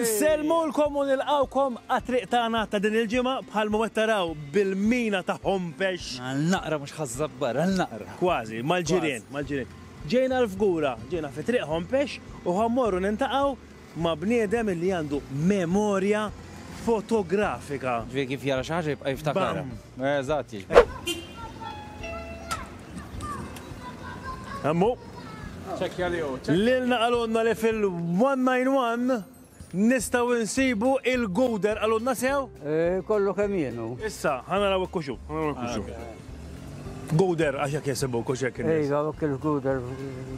Nselmulkom u nilqawkom għat-triq tagħna ta' din il-ġimgħa bħal ma qed taraw bil-mina ta' Hompex. Għal naqra mhux ħaż-Żabbar, għal naqra. Kważi, mal-ġirien, mal-ġirien. Ġejna l-Fgura, ġejna fi triq Hompex u ħa mmorru niltaqgħu ma' bniedem li għandu memorja fotografika. Ġifieri kif jara xi ħaġa jibqa' jiftakarha. Bam! Eżatt, jiġbed. Hemmu. Ċekkja li hu. Lilna qalulna li fil-191 nistgħu insibu il-guder qalulna sew? Eh, kollu kemm jienu. Issa, ħana raw ikkuxu, ħana raw ikkuxu. Guder, għax jek jesibu kux jek. Ejja, il-guder.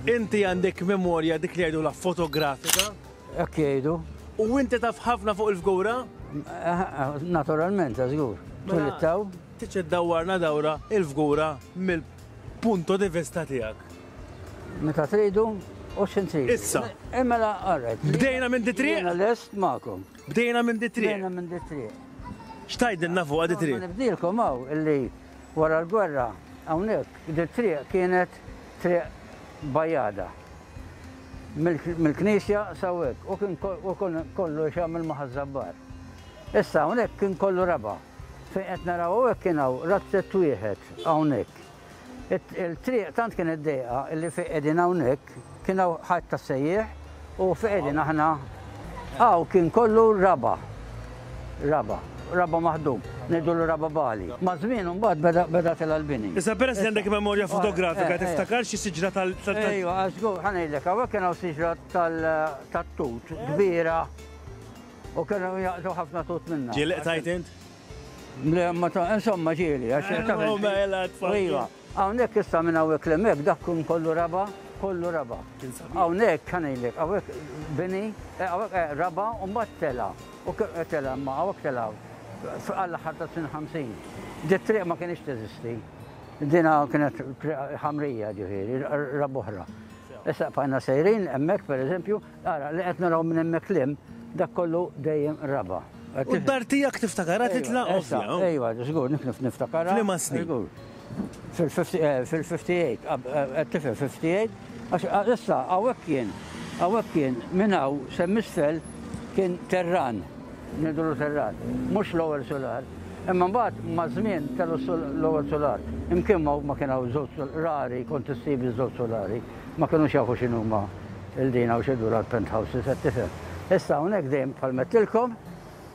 Inti għandek memorja dik li għajdu la fotografika? Hekk jgħidu. U inti taf ħafna fuq il-fgura? Naturalment, ta' żgur. Tulittaw. Tiċċed dawwarna dawra il-fgura mill-punto di vista tiegħek. Meta tridu, u xin tridu. Issa. Imma la għarret. Bdejna minn di triq? Bdejna l-est ma'kom. Bdejna minn di triq? Bdejna minn di triq. Xtajdilna fuq di triq? Nibdilkom għaw illi wara l-gwerra għawnek di triq kienet triq bajada. mill-knisja saw hekk u kien kollu jxammel ma' ħaż-żabbar. Issa hawnhekk kien kollu raba' fejn qed naraw hawnhekk kien hawn razzett wieħed hawnhekk. Il-triq tant kienet dejqa li fejn qegħdin hawnhekk kien hawn ħajt tas-sejjieħ u fejn qegħdin aħna Hawn kien kollu raba'. Raba'. Raba' maħdum. Ngħidulu raba' bagħli. Maż-żmien imbagħad beda beda tilgħa l-bini. Issa peress li għandek memorja fotografika tiftakar xi siġra tal tal Ejwa, għax żgur, ħa ngħidlek, hawnhekk kien hawn siġra tal tat-tut kbira u kienu jaqtgħu ħafna tut minnha. Ġieli qtajt int? Le, ma ta' insomma ġieli għax taf. Mela tfal. Ejwa. Hawnhekk issa minn hawnhekk 'l hemmhekk dak kien kollu raba', kollu raba'. Kien sabiħ. Hawnhekk ħa ngħidlek, hawnhekk bini, hawnhekk eh, raba' u mbagħad tela'. U tela' imma hawnhekk tela' għall-aħħar tas-snin ħamsin. Di t-triq ma kinitx teżisti. Dina kienet triq ħamrija ġifieri, raba' oħra. Issa bqajna sejrin hemmhekk pereżempju, Ara, li qed naraw minn hemmhekk l-hemm, dak kollu dejjem raba'. U d-dar tiegħek tiftakarha titla' ovvja. Ejwa, żgur, niftakarha. F'liema snin? Fil-58, qed tifhem, 58, għax issa hawnhekk kien, hawnhekk kien, minn hawn s'hemm isfel kien terran, ngħidulu terran, mhux l-ewwel sular. Imma mbagħad maż-żmien kellu l-ewwel sular. Imkien ma kien hawn żewġ rari kont issib iż-żewġ sulari. ma kinux jafu x'inhuma l-dina u x'idura l-penthouses, qed tifhem. Issa hawnhekk dejjem bħal m'għedtilkom,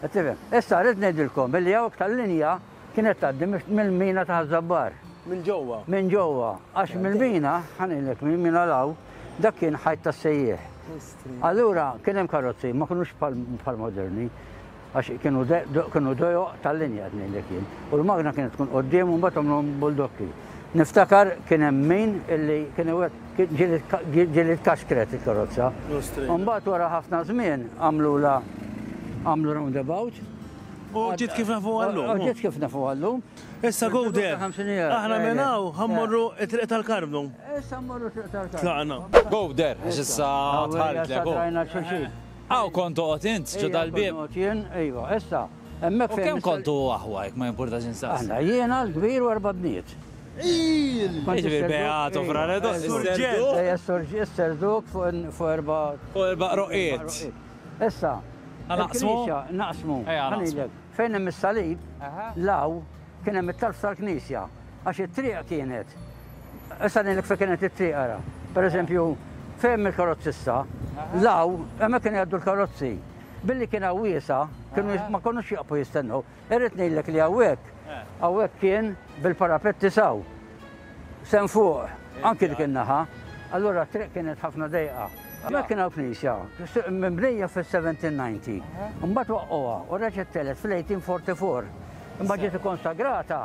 qed tifhem. Issa rrid ngħidilkom illi hawn iktar linja kienet tgħaddi mill-mina ta' Ħaż-Żabbar. Minn ġewwa? Minn ġewwa, għax mill-mina, ħa ngħidlek, mill-mina 'l hawn, dak kien ħajt tas-sejjieħ. Allura kien hemm karozzi, ma kinux bħal moderni. Għax kienu dojoq tal-linja żmien dik jien. U l-magna kienet tkun quddiem u mbagħad għamluhom buldokki. Niftakar kien hemm min illi kien ġieli tkaxkret il-karozza. U mbagħad wara ħafna żmien għamlulha għamlu roundabout. U ġiet kif nafuha llum. U ġiet kif nafuha llum. Issa go there. Aħna minn hawn ħa mmorru t-Triq tal-Karmnu. Issa mmorru t-Triq tal-Karmnu. Tlaqna. Go there, għax issa tħalltlek. Issa tħalltlek. Hawn kont toqgħod int, ġo dal-bieb. Hawn kont noqgħod jien, iva, issa, hemmhekk fejn. U kemm kontu aħwa, jekk ma jimpurtax insaqsi? Aħna, jiena, l-kbir u erba' bniet. Jiġifieri Beato, Fra Redo, is-Serduk. Ejja, is-Serduk fuq erba'. Fuq erba' roqiet. Issa. Naqsmu? Naqsmu. Ejja, naqsmu. Fejn hemm is-salib, l-hawn. Kien hemm it-talb tal-knisja għax it-triq kienet issa ngħidlek fejn kienet it-triq ara. Pereżempju, fejn il-karozzi issa, law hemmhekk kienu jgħaddu l-karozzi. Billi kien hawn wiesa, kienu ma konux jaqfu jistennew. Irrid ngħidlek li hawnhekk, hawnhekk kien bil-parapetti saw. Sehem fuq, anki dik in-naħa. Allura t-triq kienet ħafna dejqa. Hemmhekk kien hawn knisja, mibnija fis-1790. Imbagħad waqqgħuha u reġgħet tgħelet fil-1844. Imbagħad ġiet ikkonsagrata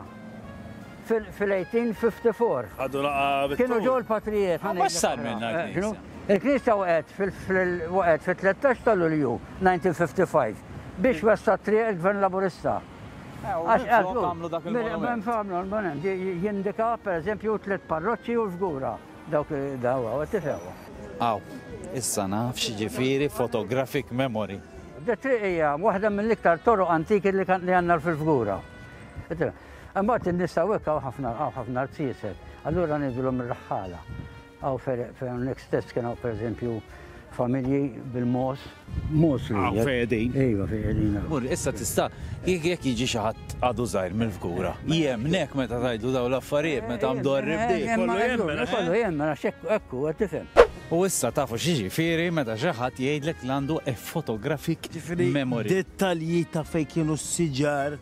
fil-1854. Ħadu laqgħa bit-tul. Kienu ġew il-patrijiet. Ma mhux sar minnha l-knisja. Il-knisja waqgħet fil-13 ta' Lulju 1955 biex wessa t-triq il-Gvern Laburista. Jindika per eżempju tliet parroċċi u l-fgura dawk dawa, tifhem? Aw, issa naf x'jiġifieri photographic memory. Di t-triq hija waħda mill-iktar toroq antiki li għandna fil-fgura. Imbagħad in-nies ta' hawnhekk hawn ħafna rziezet, allura ngħidulhom ir-raħħala. Hawn fejn hawnhekk stess kien hawn pereżempju familji bil-mogħoż. Mogħoż li. Hawn fejn qegħdin. Iva fejn qegħdin hawn. Mur, issa tista' jekk jiġi xi ħadd għadu żgħir mill-fgura. Jemmnek meta tgħidlu dawn l-affarijiet meta mdorri b'dik. Kollu jemmen. Kollu jemmen għax hekk hu qed tifhem. U issa tafu x'jiġifieri meta xi ħadd jgħidlek li għandu a photographic memory. Dettalji ta' fejn kienu s-siġar.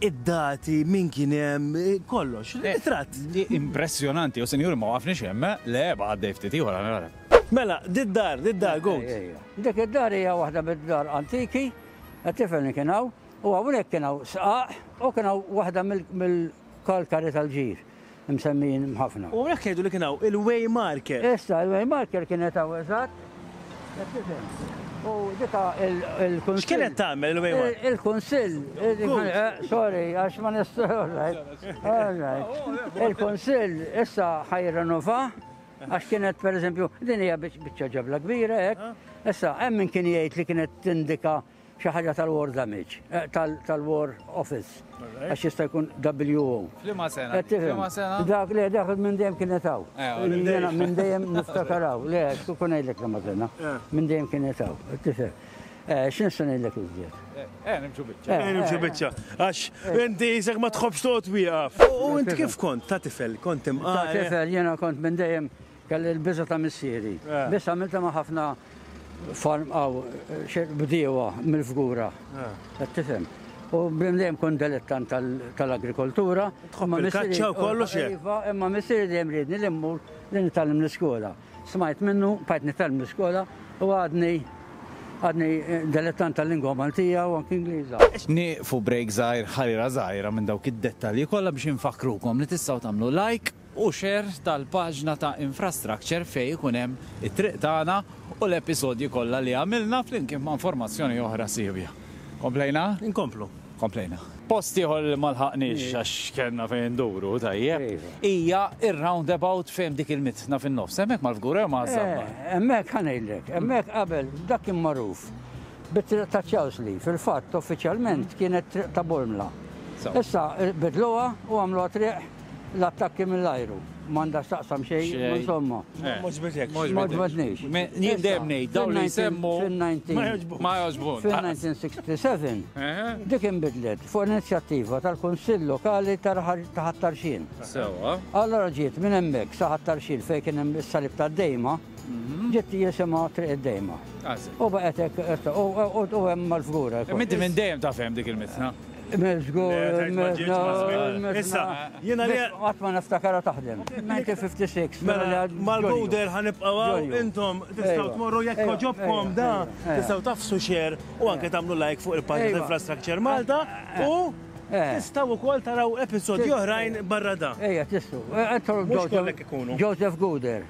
Id-dati, min kien hemm, kollox. Ritratt. Impressjonanti, o sinjuri, ma waqafniex hemm, eh? Le, baqa' għaddej ftit ieħor, ara, ara. Mela, did-dar, did-dar, Goat. Dik id-dar hija waħda mid-dar antiki, qed tifhem li kien hawn, u hawnhekk kien hawn sqaq u kien hawn waħda mill-kalkari tal-ġir. msemmijin ħafna. U hawnhekk jgħidu li kien hawn il-Waymarker. Issa, il-Waymarker kienet hawn eżatt. U dika il-kunsill. X'kienet tagħmel il-Waymarker? Il-kunsill. Eh, sorry, għax ma Il-kunsill issa ħajrenova għax kienet per eżempju din hija biċċa ġabla kbira hekk. Issa hemm min kien jgħid li kienet tindika Xi ħaġa tal-War Damage, eh, tal-War Office, għax jista' jkun WO. Flima sena? Eh, Flima sena? Dak li dak minn dejjem kienet hawn. Eh, minn dejjem niftakar hawn. Le, kun ngħidlek li ma sena. Minn dejjem kienet hawn. Tifhem. X'in se ngħidlek iżjed? Eh, nimxu biċċa. Eh, nimxu biċċa. Għax inti jisek ma tħobbx toqgħod wieqaf. U int kif kont ta' tifel? Kont imqar. Ta' tifel jiena kont minn dejjem Kelli l-biża' ta' missieri. Biss għamiltha ma' ħafna farm aw bdiewa mill-Fgura. Qed tifhem? U bdejn dejjem kont delettant tal-agrikoltura. Tħobb il-kaċċa u kollox hekk? Iva, imma missieri dejjem riedni li mmur li nitgħallem l-iskola. Smajt minnu, bqajt nitgħallem l-iskola u għadni għadni delettant tal-lingwa Maltija u anki Ingliża. Nieqfu break żgħir, ħarira żgħira minn dawk id-dettalji kollha biex infakkrukom li tistgħu tagħmlu like u share tal-paġna ta' Infrastructure fejn ikun hemm it-triq tagħna u l-episodji kollha li għamilna flimkien ma' informazzjoni oħra siewja. Komplejna? Inkomplu. Komplejna. Post ieħor li ma lħaqniex għax kellna fejn induru, tajjeb, hija r-roundabout fejn hemm dik il-mitna fin-nofs, hemmhekk mal-fgura jew maż-żabba? Hemmhekk ħa ngħidlek, hemmhekk qabel dak kien magħruf bit-triq ta' Charles Lee, fil-fatt uffiċjalment kienet triq ta' Bormla. Issa bidluha u għamluha triq L-attakki mill-ajru m'għandha x'taqsam xejn, insomma. Mhux bidek. Mhux bidnix. Jien dejjem ngħid dawn li jsemmu ma jogħġbunx. Fil-1967 dik inbidlet fuq inizjattiva tal-Kunsill Lokali ta' Ħat-Tarxien. Sewwa. Allura ġiet minn hemmhekk sa Ħat-Tarxien fejn kien hemm is-Salib tad-Dejma. Ġiet jisimha Triq id-Dejma. U baqgħet hekk u hemm mal-fgura. Minti minn dejjem taf hemm dik il-mitna. Miżgur, issa, jiena li. Qatt ma niftakarha taħdem. 1956. Mela, mal-bowder ħanibqgħu hawn, intom tistgħu tmorru jekk jogħġobkom da, tistgħu tafsu share u anke tagħmlu like fuq il-paġna ta' Infrastructure Malta u tistgħu wkoll taraw episodji oħrajn barra da. Ejja, tistgħu. Mhux kollha jkunu. Joseph Guder.